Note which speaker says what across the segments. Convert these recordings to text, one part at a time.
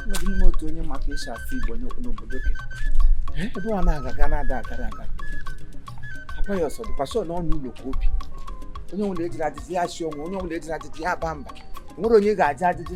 Speaker 1: n'ime otu onye maka isi asụ Igbo n'obodo gị ebe ọ na-agaga na-ada agara aga apayọs dịkwa sọ n'ọnụ ụlọ ka o bi onye nwere ejiri ajụjụ ya si onwe onye nwere ejiri ajụjụ ya ba mba nwere onye ga-ajụ ajụjụ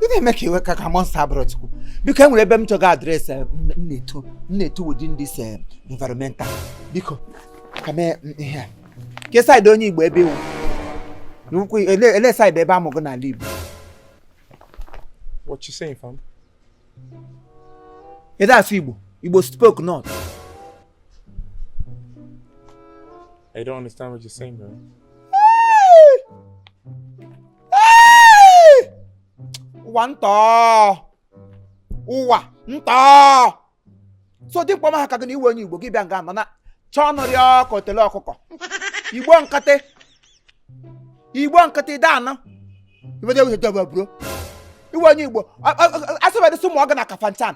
Speaker 1: ị na-eme ka iwe ka ka monsta abụrụ chukwu biko e nwere ebe m chọga adreesị eh, m na-eto m na-eto within this eh, environmental biko ka mee mm, ihe a ke saịdị onye igbo ebe ị wụ n'ukwu ele ele saịdị ebe a mụ gị n'ala
Speaker 2: igbo What you saying,
Speaker 1: fam? ị da-asụ igbo igbo spoke
Speaker 2: not I don't understand what you're saying, bro.
Speaker 1: ụwa ntọ ụwa ntọ so dimkpa ọma ha ka gị na ị wụ onye igbo gị bịa nga nọ na chọọ ọnụ rị ka otele ọkụkọ igbo nkịtị igbo nkịtị ị da-anụ bro ị wụ onye igbo asịbadịsị a mụọ gị na kafanchan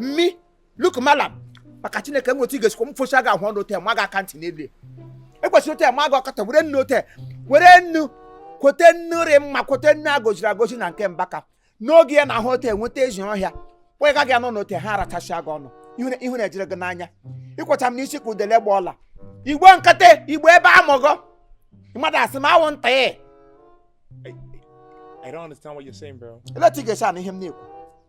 Speaker 1: mmi luk malam maka chineke m otu ị ga-esikwa m focha gị ahụ ọnụ ote ma gị aka ntị n'elu ekwesịrị ote ma gị ọkọta were nnu ote were nnu kwete nnu rị mma kwete nnu a gọziri agọzi na nke mbaka n'oge ya n'ahụ ote nweta ezi ọhịa kpọga gị anọ n'ote ha arachasịa gị ọnụ ihu- ihu na-ejere gị n'anya ị kwọcha m n'isi ka udele gba ọla igbo nkịtị igbo ebe a mụ gị mmadụ asị m awụ nta ya
Speaker 2: I don't understand what you're saying, bro. ele otu ị ga-esi anụ ihe m
Speaker 1: na-ekwu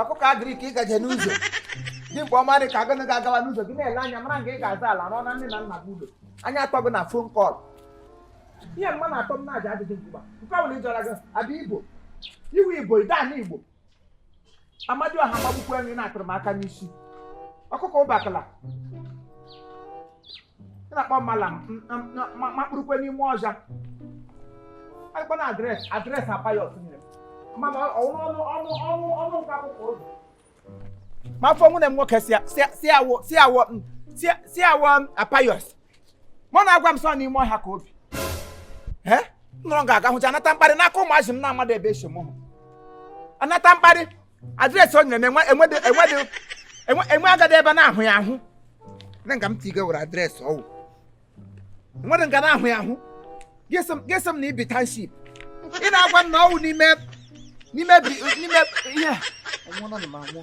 Speaker 1: ọkụkọ agrik ị gaje n'ụzọ dimkpa ọma rị ka gị na ga-agawa n'ụzọ gị na-ele anya mara nga ị ga-azụ ala rụọ na nne na nna gị ụlọ anya atọ gị na fon kọl ihe mma na atọ m na-aja adịghị mgba nke ọ bụla ịjọra gị abịa igbo ị wụ igbo ị da-anụ igbo amadịọha magbukwa enyi na-atụrụ m aka n'isi ọkụkọ ụbakala ị na-akpọ malam makpurukwe n'ime ọhịa akpa na adres adres apayọs nyere m ma ọnụ ọnụ ọnụ ọnụ ọnụ nke akwụkwọ ozi ma afọ nwunye m nwoke si awọ si awọ si awọ apayọs mụ na-agwa m sị ọ n'ime ọhịa ka o bi nọrọ ga-aga hụcha anata mkparị n'aka ụmụazị m na-amadụ ebe e si mụọ ha anata mkparị adreesị o nyere m enwe- enwedị enwedị enwe enwe agadi ebe a na-ahụ ya ahụ na nga m tiga were adreesị ọ wụ enwedị nga a na-ahụ ya ahụ gị sị m na i bi township ị na-agwa m na ọ wụ n'ime n'ime bi- n'ime ihe a. Anwụọna m anwụọ.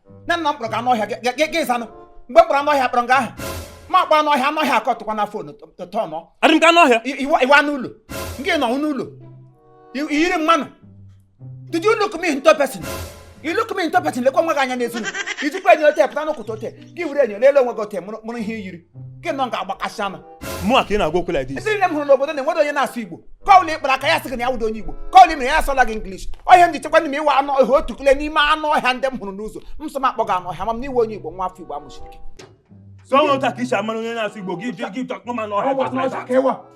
Speaker 1: nne nna m kpọrọ gị anụ ọhịa
Speaker 2: gị-
Speaker 1: gị- gị ịzanụ mgbe m kpọrọ anụ ọhịa kpọrọ gị aha ma akpọ anụ ọhịa anụ ọhịa akọtụkwa na fon tọnọ adị m ka anụ ọhịa
Speaker 2: ị wụ ị wụ anụ
Speaker 1: ụlọ nke nọ n'ụlọ I- i yiri mmanụ did you look me into person you look me into person lekwa onwe gị anya n'ezi m. i jikwa enyo ote pụta n'ụkụta ote gị were enyo leele onwe gị ote mụrụ mụrụ ihe i yiri gị nọ nga agbakasị anụ mụ a ka ị na-agwa
Speaker 2: okwu like this ndị nne m hụrụ n'obodo
Speaker 1: na-enwere onye na-asụ igbo kọwụl ị kpara aka ya sị gị na ya wụdo onye igbo kọwụl ị mere ya asụọla gị English ọhịa m ji chekwa n'ime ị wụ anụ ọhịa otu kule n'ime anụ ọhịa ndị m hụrụ n'ụzọ m sọ m akpọ gị anụ ọhịa ma m na ị wụ onye igbo nwa afọ igbo amụchiri gị so ọ nwụta
Speaker 2: ka e si amara onye na-asụ igbo gị gị gị akpọ m anụ ọhịa just like that.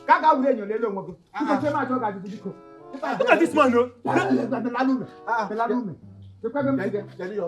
Speaker 2: ka a gaa
Speaker 1: were enyo lele onwe gị nkechi ma achọ gị ajụjụ biko Look at this
Speaker 2: man o Kedu ya?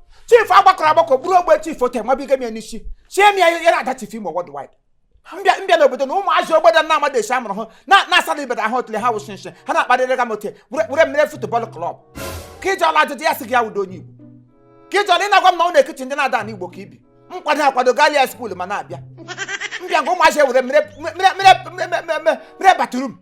Speaker 1: chief agbakọrọ agbakọ bụrụ ogbe chief ote nwabiga m ya n'isi chie m ya ya na-ada chief imo worldwide mbịa mbịa n'obodo na ụmụazị obodo na amadị esi amụrụ hụ na-asara ibeda ahụ otule ha wụsị nsị ha na-akparịrị ga m ote were mere football club ka iji ọla ajụjụ ya sị gị ya wudo onye igbo ka iji ọla ị na-agwa m na ọ na-ekichi ndị na-ada n'igbo ka ibi nkwado akwado galia school ma na-abịa mbịa nke ụmụazị e were mere bathroom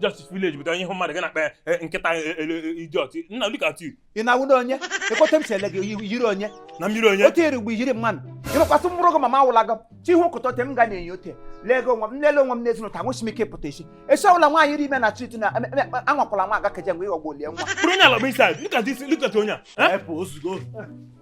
Speaker 2: justice village bụ onye ihu mmadụ gị na-akpa eh, nkịta eh, eh, idiot nna look at you ị na-awụdo
Speaker 1: onye ekọta m si ele gị yiri onye na mmiri onye otu iri
Speaker 2: mgbe yiri mmanụ
Speaker 1: ịrụkwasị mkpụrụ gị mama awụla gị chi ihu nkụta ote m ga na-enye ote lee gị onwe m nlele onwe m n'ezinụlọ ta nwụchi m ike pụta isi esi ọbụla nwaanyị iri ime na chit na anwakwala anwa aga keje mgbe ịghọgbu olie nwa bụrụ onye ala bụ isi
Speaker 2: look at this look at onye a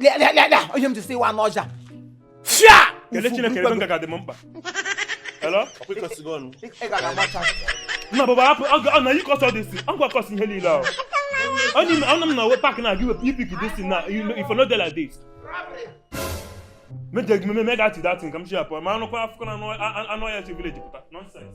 Speaker 1: Liar, liar, liar, liar. Onye m ji sị ị wụ anụ ọhịa. Fia! Kelee Chineke
Speaker 2: ebe nga ga-adị m mkpa. Hello? Ọkwa ịkọsigo ọnụ. Ị gara amacha. Nna baba hapụ ọ ga- ọ na you cause all this ọ gwakọs ihe niile ahụ. Onye m ọnụ m na pak na gị wepụ you pick this thing now you know, if you no dey like this. Meje gị meme mega ti that thing ka m si apụ ma anụkwa afụkọ na anụ- a- a- anụ ọhịa si village pụta. Nonsense.